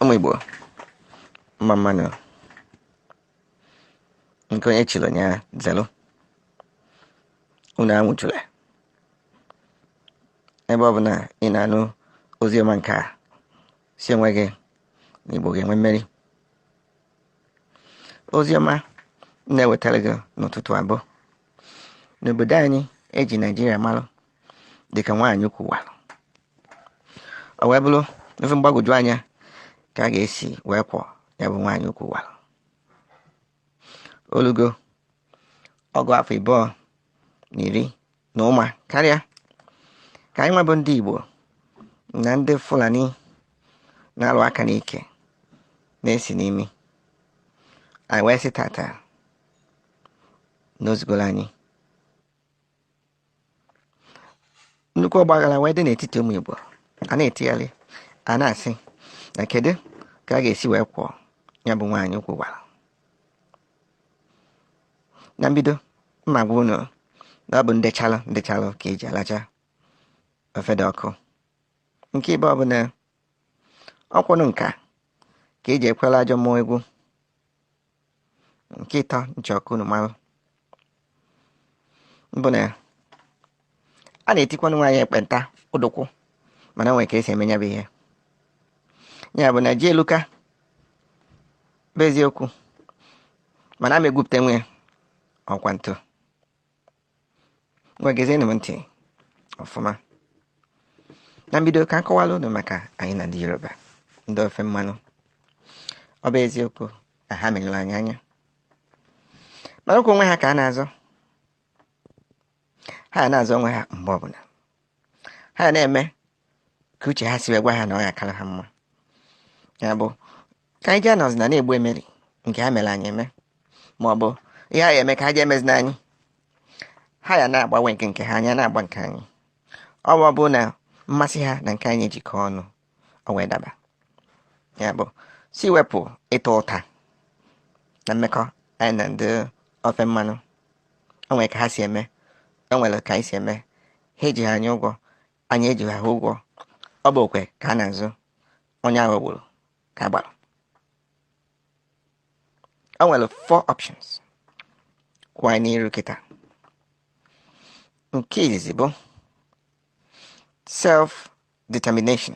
ụmụ Igbo mma mma nụ nke onye chiri nya zelu unu anwụchula ebe ọ bụla ị na-anụ ozi ọma nke a sị onwe gị na Igbo ga-enwe mmeri ozi ọma na-ewetara gị n'ụtụtụ a bụ na obodo anyị eji Naijiria malụ dịka nwaanyị ukwu walụ o wee bụrụ ife mgbagwoju anya ka a ga-esi wee kwọ ya bụ nwaanyị ukwu walụ o lugo ọgụ afọ ịbụọ na iri na ụma karịa ka anyịnwa bụ ndị Igbo na ndị Fulani na-alụ aka n'ike na-esi n'imi anyị wee sị tata na o zugoro anyị nnukwu ọgbaghara wee dị n'etiti ụmụ Igbo a na-etigharị a na-asị na kedu ka a ga-esi wee kwọ ya bụ nwaanyị ukwu walụ na mbido m ma-agwa unu na ọ bụ ndechalụ ndechalụ ka eji alacha ofe dị ọkụ nke ịbụọ bụ na ọ kwa ọnụ nka ka eji ekwelu ajọ mmụọ egwu nke ịtọ m chọ ka unu mara bụ na a na-etikwanụ nwaanyị ekpenta ụdụkwụ mana o nwere ka esi eme ya bụ ihe ya bụ na ji eluka bụ eziokwu mana a ma egwupụta nwe ọkwa ntụ ngwa gezienụ m ntị ọfụma na mbido ka m kọwalụ unu maka anyị na ndị Yoruba ndị ofe mmanụ ọ bụ eziokwu na ha merụrụ anyị anya mana ọ kwa onwe ha ka ha na-azọ ha na-azọ onwe ha mgbe ọbụla ha na-eme ka uche ha si wee gwa ha na ọ ga-akara ha mma ya bụ ka anyị jee nọzina na-egbu emeri nke ha mere anyị eme ma ọ bụ ihe a ya-eme ka ha jee emezina anyị ha ya na-agba nke ha anyị a na-agba nke anyị ọ bụ ọ bụ na mmasị ha na nke anyị jikọọ ọnụ o wee daba ya bụ sị wepụ ịta ụta na mmekọ anyị na ndị ofe mmanụ o nwere ka ha si eme o nwere ka anyị si eme ha ejighị anyị ụgwọ anyị ejighị ha ụgwọ ọ bụ okwe ka a na-azụ onye aghọgburu ka a gbara o nwere four options kwụ anyị n'iru kịta nke izizi bụ self determination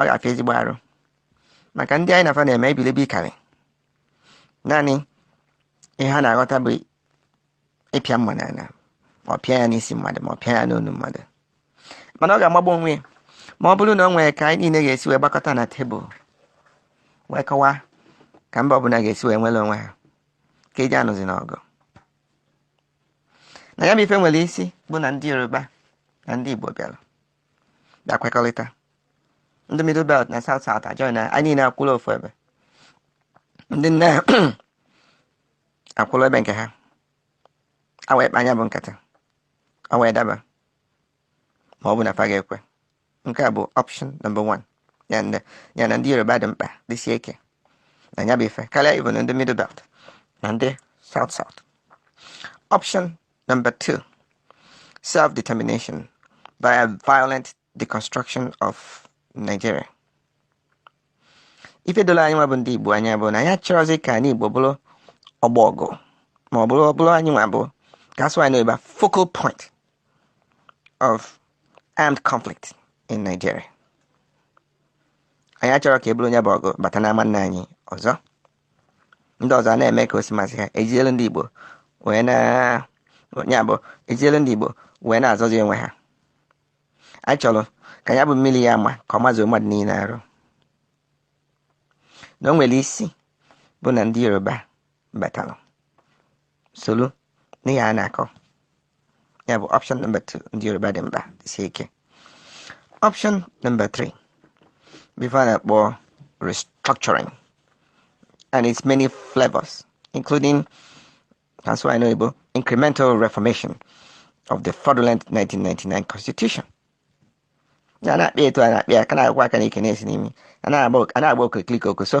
ọ ga-afịa ezigbo arụ maka ndị anyị na fa na-eme ibelibe karị naanị ihe ha na-aghọta bụ ịpịa mma n'ala ọ pịa ya n'isi mmadụ ma ọ pịa ya n'onu mmadụ mana ọ ga-amagbu onwe ya ma ọ bụrụ na o nwere ka anyị niile ga-esi wee gbakọta na tebụl wee kọwaa ka mba ọbụla ga-esi wee nwere onwe ha ka anyị anụzina ọgụ na ya bụ ife nwere isi bụ na ndị yoruba na ndị igbo bịara kwekọrịta ndị middle belt na south south ajoin anyị niile akwụrụ ofu ebe ndị north akwụrụ ebe nke ha e wee kpaa ya bụ nkata o wee daba ma ọ bụ na fa ga-ekwe nke a bụ option number one ya na ndị yoruba dị mkpa dịsie ike na ya bụ ife karịa even ndị middle belt na ndị south south option Number two, self determination via violent deconstruction of Nigeria. ife doro anyị nwa bụ ndị Igbo anya bụ na anyị achọrọzi ka anị Igbo bụrụ ọgbọ ọgụ ma ọ bụ ọ bụrụ anyị nwa bụ ka a sụa ya n'oyibo focal point of armed conflict in Nigeria anyị achọrọ ka e buru ya bụ ọgụ bata n'ama nna anyị ọzọ ndị ọzọ a na-eme ka o si masị ha ejielu ndị Igbo wee na ya bụ ejielu ndị Igbo wee na-azọzi onwe ha a chọrọ ka ya bụ mmiri ya-ama ka ọ mazuo mmadụ niile arụ na o nwere isi bụ na ndị Yoruba batara soro n'ihe a na-akọ ya bụ option number 2 ndị yoruba dị mkpa dịsie ike option number 3 bụ ife a na-akpọ restructuring and its many flavors including ka a sụa ya n'oyibo incremental reformation of the fraudulent 1999 constitution na na-akpị etu a na-akpị ya ka na-agwa aka n'ike na-esi n'imi a na-agba okirikiri okoso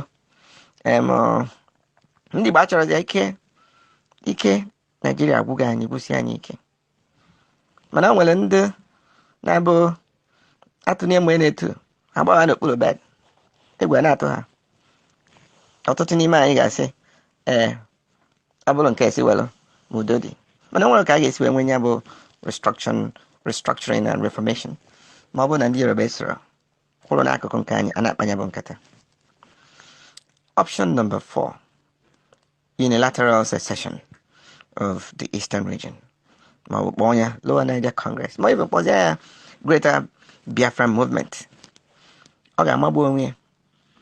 ndị Igbo achọrọzi ike ike naijiria agwụgo anyị gwụsie anyị ike mana o nwere ndị na-abụ atụnye mgbe na-etu agbaba n'okpuru bed egwu na-atụ ha ọtụtụ n'ime anyị ga-asị ee ọ bụrụ nke a sị welụ ma udo dị mana o nwerọ ka a ga-esi wee nwee ya bụ restructuring and reformation ma ọ bụrụ na ndị yoruba esoro kwụrụ n'akụkụ nke anyị a na-akpa ya bụ nkata option number 4 unilateral secession of the eastern region ma ọ bụ kpọọ ya Lower Niger Congress ma even kpọzie ya Greater Biafran Movement ọ ga-amagbu onwe ya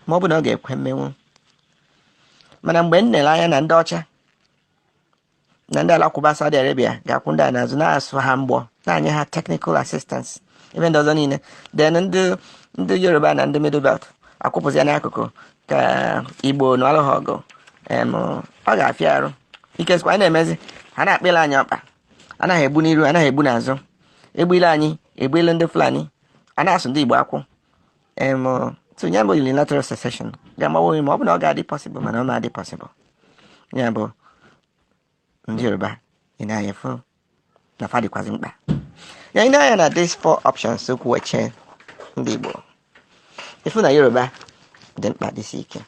ma ọ bụ na ọ ga-ekwe mmenwu mana mgbe m nere anya na ndị ọcha na ndị alakụba Saudi Arabia ga-akwụ ndị a n'azụ na-asụ ha mgbọ na-anye ha technical assistance ebe ndị ọzọ niile then ndị ndị Yoruba na ndị Middle Belt akwụpụzia n'akụkụ ka igbo nụọlụ ha ọgụ em, ọ ga-afịa arụ ike sikwa anyị na-emezi ha na-akpịla anyị ọkpa anaghị egbu n'iru anaghị egbu n'azụ egbule anyị egbule ndị fulani a na-asụ ndị igbo akwụ em so ya bụ unilateral secession ga-amagbu onwe ya ma ọ bụ na ọ ga-adị possible mana ọ ma-adị possible ya bụ ndị yoruba i nee anya fụ na fa dịkwazị mkpa ya i nee anya na these four options kwụ eche ndị Igbo ị fụ na Yoruba dị mkpa dịsi ike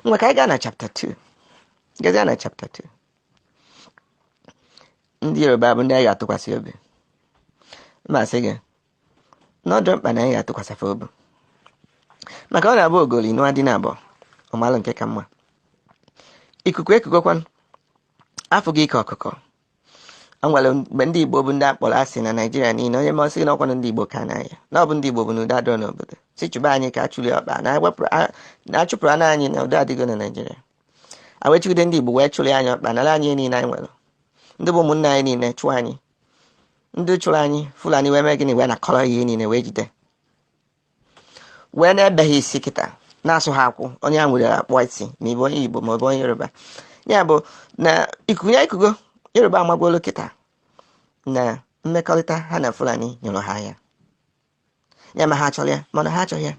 ngwa ka anyị gaa na chapter 2 gazie na chapter 2 ndị Yoruba bụ ndị anyị ga-atụkwasị obi m asị gị na ọ dị mkpa na anyị ga-atụkwasị fa obi maka ọ na-abụ ogoli nụa di naabọ ọ malụ nke ka mma ikuku ekugokwan a fụgo ike ọkụkọ o nwere mgbe ndị igbo bụ ndị a kpọrọ asị na naijiria niile onye ma ọ sị gị na ọ kwanụ ndị igbo ka n'anya na ọ bụ ndị igbo bụ na udo adịrọ n'obodo sị chụba anyị ka achụli ọkpa na ewepụrụ a- na achụpụrụ anụ anyị na udo adịgo na naijiria a wee chụgide ndị igbo wee chụrụ anyị ọkpa nara anyị ihe niile anyị nwere ndị bụ ụmụnne anyị niile chụọ anyị ndị chụrụ anyị fulani wee mee gịnị wee nakọrọ ihe niile wee jide wee na-ebe ha isi kịta na-asụ ha akwụ onye a nwere akpọ isi ma ị bụ onye igbo ma ọ bụ onye yoruba ya bụ na ikuku a ekugo yoruba amagolu kịta na mmekọrịta ha na fulani nyụrụ ha ya ya ma ha chọrọ ya mana ha achọghị ya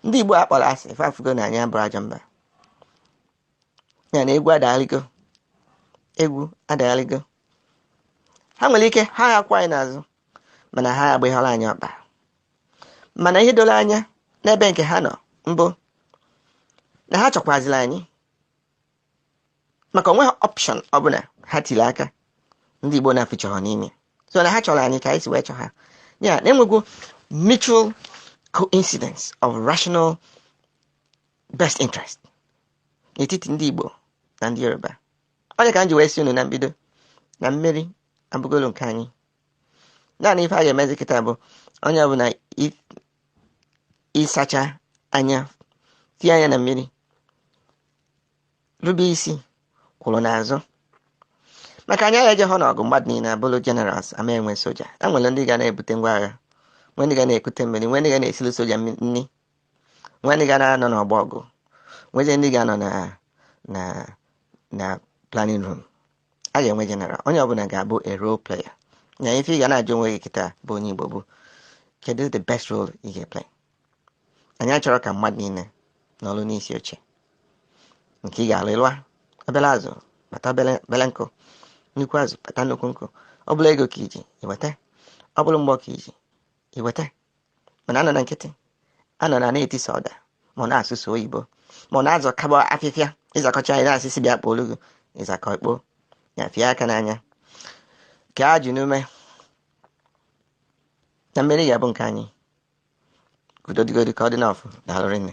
ndị igbo a kpọrọ asị fa afụgo na anyị abụrọ ajọ mba ya na egwu adagharịgo egwu adagharịgo ha nwere ike ha akwụ anyị n'azụ mana ha agbaghọrọ anyị ọkpa mana ihe doro anya n'ebe nke ha nọ bụ na ha chọkwaziri anyị maka o nweghị option ọbụla ha tiri aka ndị Igbo na-afụchọrọ n'ime so na ha chọrọ anyị ka anyị si wee chọ ha ya na e nwego mutual coincidence of rational best interest n'etiti ndị Igbo na ndị Yoruba ọ ya ka m ji wee sị unu na mbido na mmeri abụgolo nke anyị naanị ife a ga-emezi kịta bụ onye ọbụla i- ị sacha anya tie anya na mmiri rube isi kwụrụ n'azụ maka anyị aga-ejehọ n'ọgụ mmadụ niile abụrụ generals a ma enwe soja e nwere ndị ga na-ebute ngwa agha nwee ndị ga na-ekute mmiri nwee ndị ga na-esiri soja mmi- nri nwe ndị ga na-anọ n'ọgbọ ọgụ nwezie ndị ga-anọ na na na planning room a ga-enwe general onye ọbụla ga-abụ a role player na ife ị ga na-ajụ onwe gị kịta bụ onye igbo bụ kedu the best role ị ga-eplay anyị achọrọ ka mmadụ niile nọlụ n'isi oche nke ị ga-alụ ị lụa obele azụ kpata obele nkụ nnukwu azụ kpata nnukwu nkụ ọ bụla ego ka i ji i weta ọ bụla mgbọ ka i ji i weta mana anọna nkịtị anọna na-eti sọ ọda ma ọ na-asụ sọ oyibo ma ọ na-azakọba afịfịa ị zakọcha anyị na-asịsị bịa kpoo olugo ịzakọ ikpo ya fie aka n'anya ka a ji n'ume na mmeri ga-abụ nke anyị udo dịgodi ka ọ dị n'ọfụ daalụ rinne